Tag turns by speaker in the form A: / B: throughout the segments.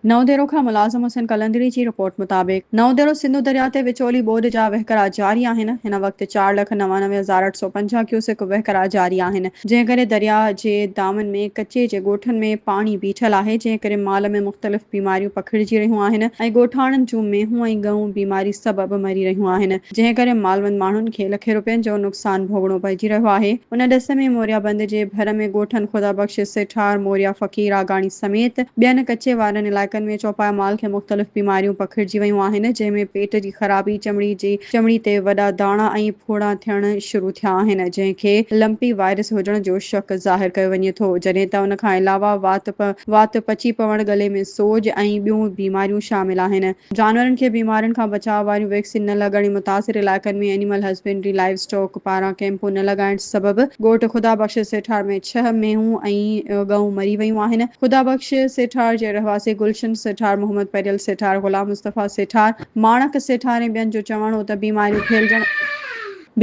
A: نئون ديرو کان ملازم حسين قلندري جي رپورٽ مطابق نئون ديرو سنڌو درياء تي وچولي ٻوڏ جا وهڪرا جاري آهن، هن وقت چار لک نوانوي هزار اٺ سؤ پنجاهه ڪيوسڪ وهڪرا جاري آهن، جنهن ڪري درياء جي دامن ۾ ڪچي جي ڳوٺن ۾ پاڻي بيٺل آهي، جنهن ڪري مال ۾ مختلف بيماريون پکڙجي رهيون آهن ۽ ڳوٺاڻن جون مينهون ۽ ڳئون بيماري سبب مري رهيون آهن. جنهن ڪري مالوند ماڻهن کي لکين روپين جو نقصان ڀوڳڻو پئجي رهيو آهي. ان ڏس ۾ موريا بند جي ڀر ۾ ڳوٺن خدا بخش، سيٺار، موريا، فقير آگاڻي سميت ٻين ڪچي وارن علائقن ۾ چوپايا مال کي مختلف بيماريون پکڙجي ويون آهن، جنهن ۾ پيٽ جي خرابي، چمڙي جي چمڙي تي وڏا داڻا ۽ ڦوڙا ٿيڻ شروع ٿيا آهن، جنهن کي لمپي وائرس هجڻ جو شڪ ظاهر ڪيو وڃي ٿو، جڏهن ته ان کان علاوه وات، وات پچي پوڻ، ڳلي ۾ سوڄ ۽ ٻيون بيماريون شامل آهن. جانورن کي بيمارين کان بچاء واريون ويڪسين نه لڳڻ ۽ متاثر علائقن ۾ اينيمل هسبينڊري لائيو اسٽاڪ پاران ڪئمپون نه لڳائڻ سبب ڳوٺ خدا بخش سيٺار ۾ ڇهه مينهون ۽ ڳئون مري ويون آهن. خدا بخش سيٺار جي رهواسي گلشن سيٺار، محمد پيريل سيٺار، غلام مصطفيٰ سيٺار، ماڻڪ سيٺار ۽ ٻين جو چوڻ هو ته بيماريون ڦهلجڻ،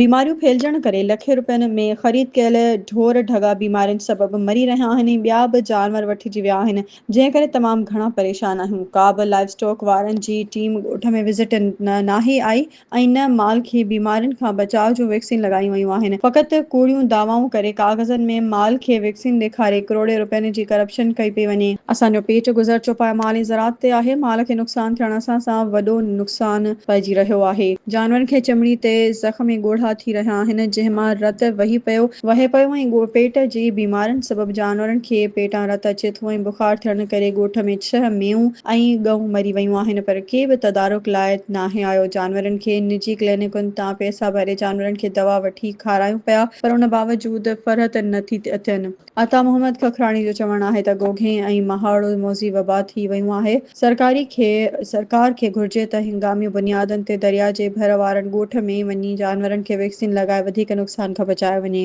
A: بيماريون ڦهلجڻ ڪري لکين روپين ۾ خريد ڪيل ڍور ڍڳا بيمارين سبب مري رهيا آهن ۽ ٻيا به جانور وٺجي ويا آهن، جنهن ڪري تمام گهڻا پريشان آهيون، ڪا به لائيو اسٽاڪ وارن جي ٽيم ڳوٺ ۾ وزٽ نه ناهي آئي ۽ نه مال کي بيمارين کان بچاء جون ويڪسين لڳايون ويون آهن، فقط ڪوڙيون دعوائون ڪري ڪاغذن ۾ مال کي ويڪسين ڏيکاري ڪروڙين رپين جي ڪرپشن ڪئي پئي وڃي. اسان جو پيٽ گذر چوپايا مال ۽ زراعت تي آهي، مال کي نقصان ٿيڻ سان سان وڏو نقصان پئجي رهيو آهي. جانورن کي چمڙي تي زخم ۽ ڳوڙها ٿي رهيا آهن، جنهن مان رت وهي پيو وهي پيو ۽ پيٽ جي بيمارين سبب جانورن کي پيٽان رت اچي ٿو ۽ بخار ٿيڻ ڪري ڳوٺ ۾ ڇهه مينهون ۽ ڳئون مري ويون آهن پر ڪي به تدارڪ لاء ناهي آيو، جانورن کي نجي ڪلينڪن تان پئسا ڀري جانورن کي دوا وٺي کارايون پيا پر ان باوجود فرحت نه ٿي اٿين. عطا محمد ککراڻي جو چوڻ آهي ته گوگهين ۽ مهاڙو موذي وبا ٿي ويون آهي، سرڪاري کي سرڪار کي گهرجي ته هنگامي بنيادن تي دريا جي ڀر وارن ڳوٺ ۾ وڃي جانورن کي ويڪسين لڳائي وڌيڪ نقصان کان بچايو وڃي.